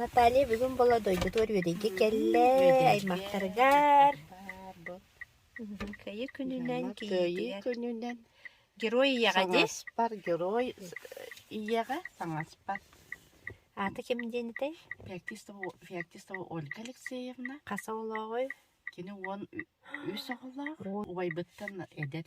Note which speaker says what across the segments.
Speaker 1: Наталья бүгүн бола дойдутугар үөдэйгэ кэллэ, аймахтарыгар. Кыайыы күнүнэн, Кыайыы күнүнэн
Speaker 2: герой ийэҕэ
Speaker 1: дии. Саҥаспар герой
Speaker 2: ийэҕэ саҥаспар. Ааты
Speaker 1: ким диэн этэй? Феоктистова
Speaker 2: Феоктистова Ольга Алексеевна. Хас оҕолооҕой?
Speaker 1: Кини уон
Speaker 2: үс оҕолоох. Убайбыттан эдэр.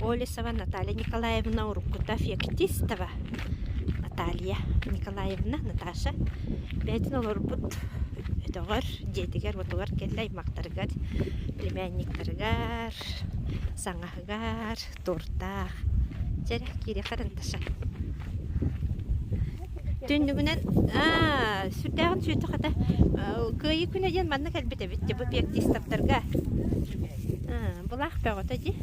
Speaker 1: Олесова Наталья Николаевна уруккута феоктистова Наталья Николаевна Наташа бэйэтин олорбут өтөҕөр дьиэтигэр-уотугар кэллэ аймахтарыгар племянниктарыгар саҥаһыгар туордаах дьэрэ киириэхэ карандашым Түннүгүнэн аа сүрдээҕин сүөтэ хата кыайыы күнэ диэн манна кэлбит эбит бу пиктистаптарга аа былаах бөҕөтө дии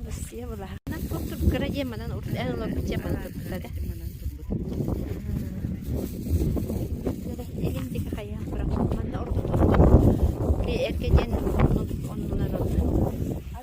Speaker 1: Россия былаһынан туттубут кыра диэн манан урут эн олорбут дьиэ манан турбута да манан турбут элин диги хайаан туран манна ордук ордук эргэ диэн оннунан онна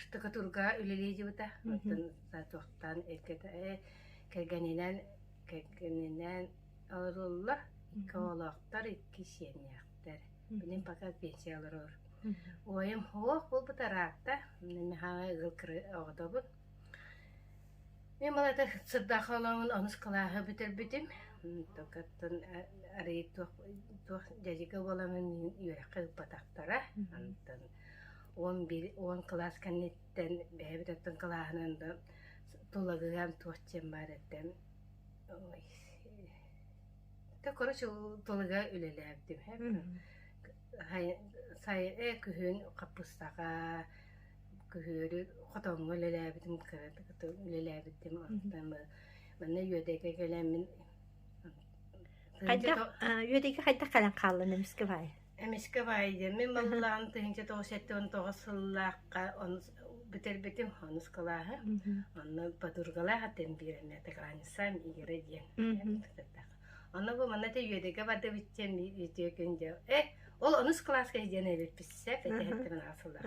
Speaker 3: штукатурга үлэлиэдибита оттон соответственно кэргэнинэн кэргэнинэн олороллор икки оҕолоохтор икки сиэннээхтэр мин пока пенсия олорор уойум суох буолбута ыраатта михаил ыгыл кыра оҕотобун мен малайта сырдаах олоҥун онус кылааһы бүтэрбитим токаттан арыый туох туох дядьга буоламын үөрэххэ ыппатахтара антан уон биир уон кылаас кэнниттэн бэйэбит оттон кылааһынан да тулагыам туох диэн баар этэ да короче тулага үлэлээбитим сайы күһүн хаппыстаха күһүөрү хотоҥҥо үлэлээбитим үлэлээбитим онтон манна үөдэйгэ кэлэммин хайдах
Speaker 1: үөдэйгэ хайдах кэлэн хааллын эмискэ баай Эмискэ Ваайда
Speaker 3: мин баллаам тыһыынча тоҕус сэттэ уон тоҕус сыллаахха ону бүтэрбитим, онускалааһын, онно подругалаах атын биэрэн Атакрансан Игоря диэн Оно бу манна те үөдэгэ барды битчен үтүө күн дьэ э ол онус кылааска диэн эбиппит сеп этэхтен аасыллар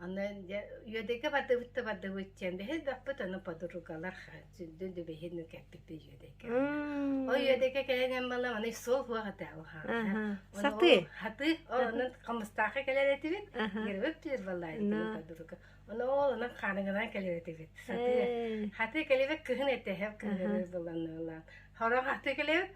Speaker 3: Онон дьэ Үөдэкэ бардыбытта бардыбыт диэн бэһин баппыт ону подругалар сүдү дүбэһин кэппиппит Үөдэкэ. О Үөдэкэ кэлэн эн бала маны суох уах этэ ухаата. Саты. Хаты
Speaker 1: онон
Speaker 3: хамыстаахы кэлэр этибит. Ербөп түр баллайдыбыт подруга. Оны ол онон хааныгынан кэлер этибит. Саты. Хаты кэлебек кыһын этэ хап кыһын боланналан. Хорон хаты кэлебек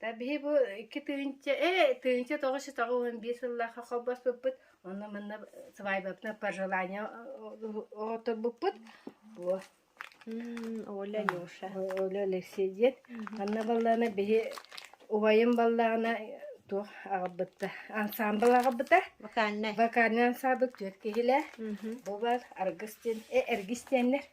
Speaker 3: та биһи бу икки тыһыынча ээ тыһыынча тоҕус жүз тоҕус уон биир сыллаахха холбоспуппут онно манна свадьбабытын пожелание оҕоторбуппут во
Speaker 1: Оля Леша Оля Алексей
Speaker 3: диэн манна баллаана биһи убайым баллаана туох аҕаббытта ансаамбыл аҕабыта вокальнай вокальный
Speaker 1: ансаабыл
Speaker 3: түөрт киһилээх бу бар аргыс диэн э эргис диэннэр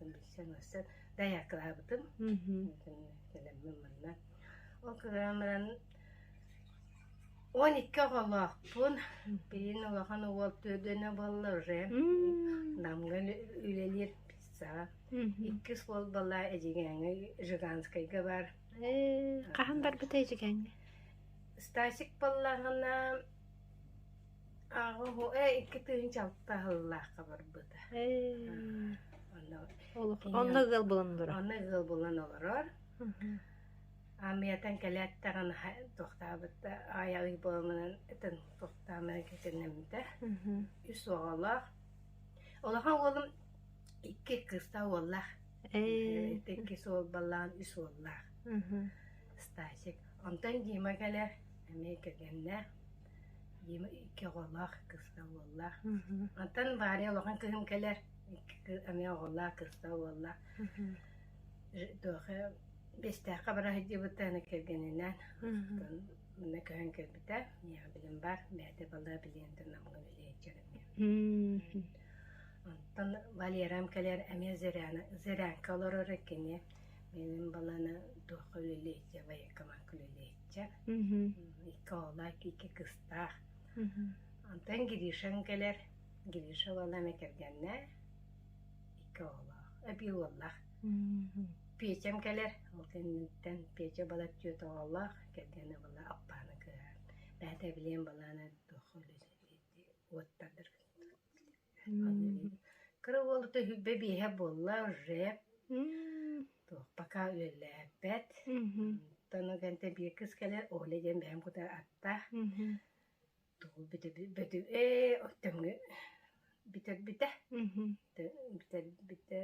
Speaker 3: Билсэн ылсан дайаакылаабытым. Кэлэммин манна. Ол кыгыран баран он икки оҕолоохпун. Биирин улахан уол төрт дэнэ буолла уже. Намга үлэлиир пицца. Икки суол бала Эдьигээҥҥэ Жиганскайга бар. Хаһан
Speaker 1: барбыта Эдьигээҥҥэ? Стасик
Speaker 3: баллаҕына Ааҕа оһо ээ икки тыһыынчалыкта аһыллаахха барбыта. Эй.
Speaker 1: Онно ыал булан олорор. Онно ыал булан
Speaker 3: олорор. Амиятан кэлээттэҕин тохтаабыт да аайалый буоламынан этэн тохтаамынан кэтэннэммитэ. Үс оҕолоох. Улахан уолум икки кыыстаах уоллаах. Эй. Иккис уол баллаан үс уоллаах. Стасик. Онтон Дима кэлэр. Эмиэ кэргэннээх. Дима икки оҕолоох, кыска уоллаах. Оттон Варя улахан кыһын кэлэр, икки эмиэ оҕолоох, кыска уоллаах. Туоха бэстээххэ бара сылдьыбыта аны кэргэнинээн. Оттон манна көһөн кэлбитэ. Миэхэ билим баар, бэйэтэ балаа билиэн да намыга билиэ сылдьар эмиэ. Оттон Валерам кэлэр эмиэ Зыряна, Зырянка олорор кини. Мин баланы туохха үлэлиир, военкоматка үлэлиир. Дьэ, икки оҕолоох, икки кыстаах. Онтон Гришаҥ кэлэр. Гриша уоллаана кэргэннэ. Икки оҕолоох. Эбии уоллаах. Петям кэлэр. Ол кэнниттэн Петя балар түөрт оҕолоох. Кэргэнэ була Аппааны кыһаан. Бээтэ билиэн балаана туох уоттардар Кыра уолу үһүгбэ биэһэ буолла жеп туох пока үөллээбэт оттон ганте биир кыс кэлэ Оля диэн бэйэм кута атта тугу бөтү-ээ оттомҥу бүтэрбитэ бүтэрбитэ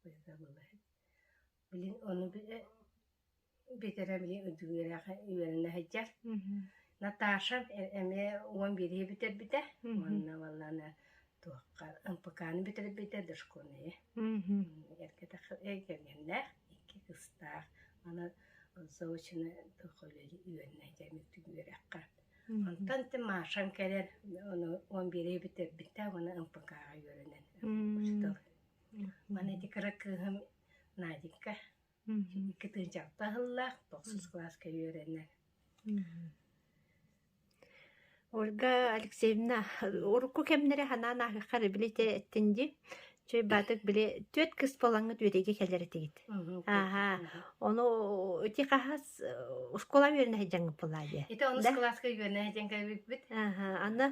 Speaker 3: ой забыла Блин, ону бүтэрэ эмиэ үтүгүрэхэ үөрэнэ сылдьар. Наташа эмиэ уон бииргэ бүтэрбитэ уонна баллана туохха МПК-ны бүтэрбитэ дошкольные. Эргэтэх эгэлгэннээх икки кыстаах аны заочно тохолели үөннэ дэмик түгүрэхха. Онтон ты Машан кэлэн ону он бииргэ бүтэрбитэ уонна МПК-га үөрэнэн. Мана эти кыра кыыһым Наденька кытыынчалта аһыллаах тохсус кылааска үөрэнэр.
Speaker 1: Ольга Алексеевна, урукку кэмнэри ханаан аахаххар били те эттин ди чөй баатык били түөт кыс болаҥыт үөрэге кэлэр этигит. Ааха, ону ити хаһас оскуола үөрэнэ сылдьаҥҥыт буоллаа диэ. Ити онус да? кылааска
Speaker 3: үөрэнэ сылдьаҥка бүппүт. Аха, аны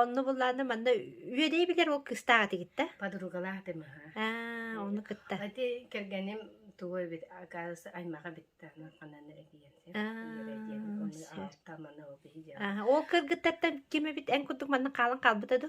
Speaker 1: онну буллааны манна үөрэй билэр ол кыстаах этигит да? Подругалаах дым. Аа,
Speaker 3: ону
Speaker 1: кытта. Ати кэргэним
Speaker 3: тугу эбит, акаас аймаха битте аны ханан этиен сен. Оны аартаманы
Speaker 1: ол биһиде. Ол кыргыттаттан ким эбит эн курдук манна хаалан хаалбыта да?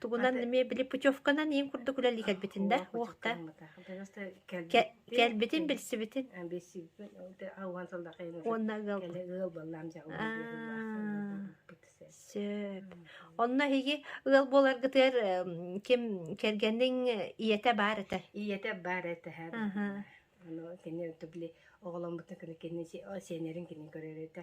Speaker 1: Тугунан эмиэ били путевканан иин курдук үлэлии кэлбитин да, уох да. Кэлбитин билсибитин. Уонна ыал. Сөп. Онно эһиги ыал буоларгытыгар ким кэргэнниң ийэтэ баар этэ? Ийэтэ баар этэ
Speaker 3: һэр. Ону кини били оҕоломбутун кини кини сенерин кини көрөр этэ.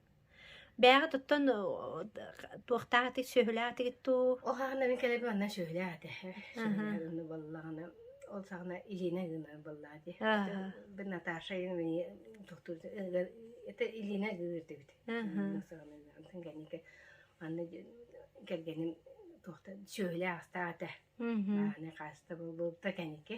Speaker 1: Бээҕи туттан туохтаах аты сүөһүлээх атыгыт дуу? Ол хаана мин кэлэби
Speaker 3: манна сүөһүлээх аты. Сүөһүлээх гынны буоллаҕына ол саҕана Илина гынар буоллаати. Бу Наташа ин мини тохтур это Илина гыырдыгыт. Антон кэнники анна кэргеним тохта сүөһүлээх астаата. Ааны хаста булбутта кэнники.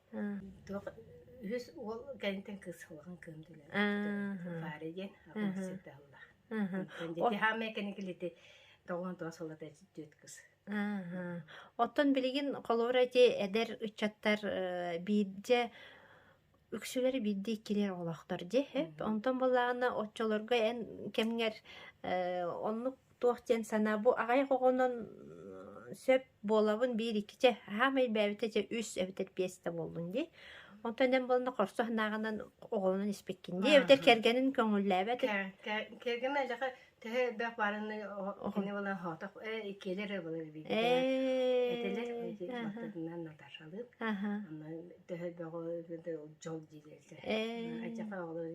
Speaker 1: Туох
Speaker 3: үһүс уол кэнниттэн кыысалҕан кыым түлээн Фаре диэн сирдэ аһыллар. Дити хааммай кэникилити тоҕон тоҕо салата түөт кыс.
Speaker 1: Оттон билигин холура ити эдэр ыччаттар биирдэ үксүлэри биирдии кирер олохтор де онтон боллаана оччолорго эн кэмгер оннук туох диэн санаа бу аҕай оҕонон сөп буолабын биир икки чэ хаамай бэйэбитэ дьэ үс эбэтэр биэс да буоллун дии онтон эн буолана хорсу санааҕынан оҕолонон испиккин дии эбэтэр кэргэнин көҥүллээбэт кэргэн
Speaker 3: элэхэ тэһэ элбэх баарынны кини була хоотох э иккилэр ыбылыр биитэ этилэр баттатынан наташалыып аны тэһэ бөҕө дьол диилэрсэ айчаха оҕолор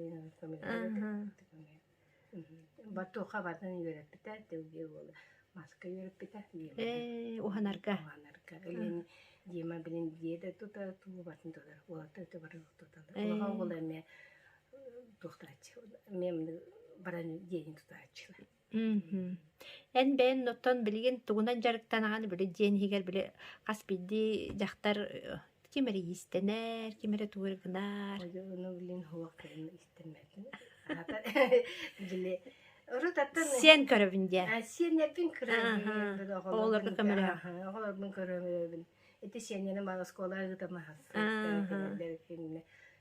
Speaker 3: Ботуоха батын үөрэппитэ, тылгыы уола маска үөрэппитэ. Ээ, уһанарга.
Speaker 1: Уһанарга. Илин
Speaker 3: Дима билин дьиэ да тута тулубатын тутар. Уолата өтөбөр туталар. Кулаха уола эмиэ туохтааччы. Мем баран диэни тутааччылар.
Speaker 1: Эн бэйэн оттон билигин тугунан дьарыктанаҕын били дьиэн иһигэр били хас биирдии дьахтар Ким эрэ иистэнэр, ким эрэ тугу эрэ гынар.
Speaker 3: Одьону билин суох кыһын истэммэтин. Аата били урут аттан Сиэн көрөбүн диэн.
Speaker 1: А сиэннэрбин
Speaker 3: көрөбүн.
Speaker 1: Оҕолорго
Speaker 3: көмөлөһө.
Speaker 1: Оҕолорбун көрөбүн.
Speaker 3: Ити сиэннэрим оскуола ыытамаһа.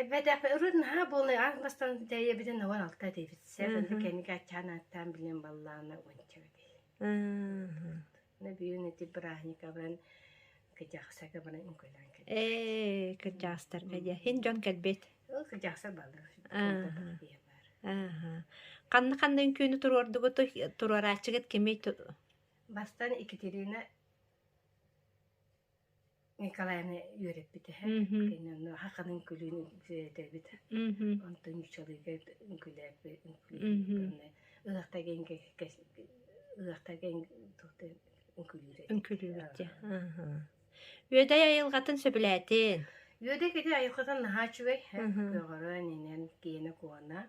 Speaker 3: Эбэтэх ырыт наһаа буолна аан бастан тэйэбитин ногон алта диэбит сээбэнди кэники аччаан ааттаан билин баллаана уонча бэтиһи
Speaker 1: на бүгүн
Speaker 3: эти праздника барын кыдьахсака барын үҥкүлэн кэт ээ
Speaker 1: кырдьаастарга дьэ һин дьон кэлбит ол кыдьахсар
Speaker 3: баллар баар
Speaker 1: ханна ханна үҥкүүнү туруордугут туруорааччыгыт кимий бастан
Speaker 3: екатерина Николайны үөрэппит эһэ. Кини Нуаха Ханын күлүүн этэбит. Онтон ньучалыыга үҥкүүлээппит. Ыһахтага ыһахтага үҥкүүлүүр. Үҥкүүлүүбүт
Speaker 1: дьэ. Үөдэй айылҕатын сөбүлээтин? Үөдэй кити
Speaker 3: айылҕатын наһаа үчүгэй. Көҕөрө, нинен, киэнэ, куона.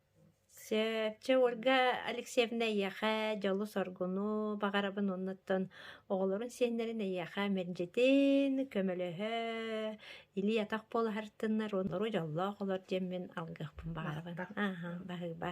Speaker 1: Чэ, Ольга Алексеевна эйиэхэ дьолу-соргуну баҕарабын оннуттан оҕолорун сиэннэрин эйиэхэ мэлдьитин көмөлөһө илии-атах буолаһартыннар онору дьоллоох олор диэммин алгыахпын баҕарабын. Аһа, баһыыба.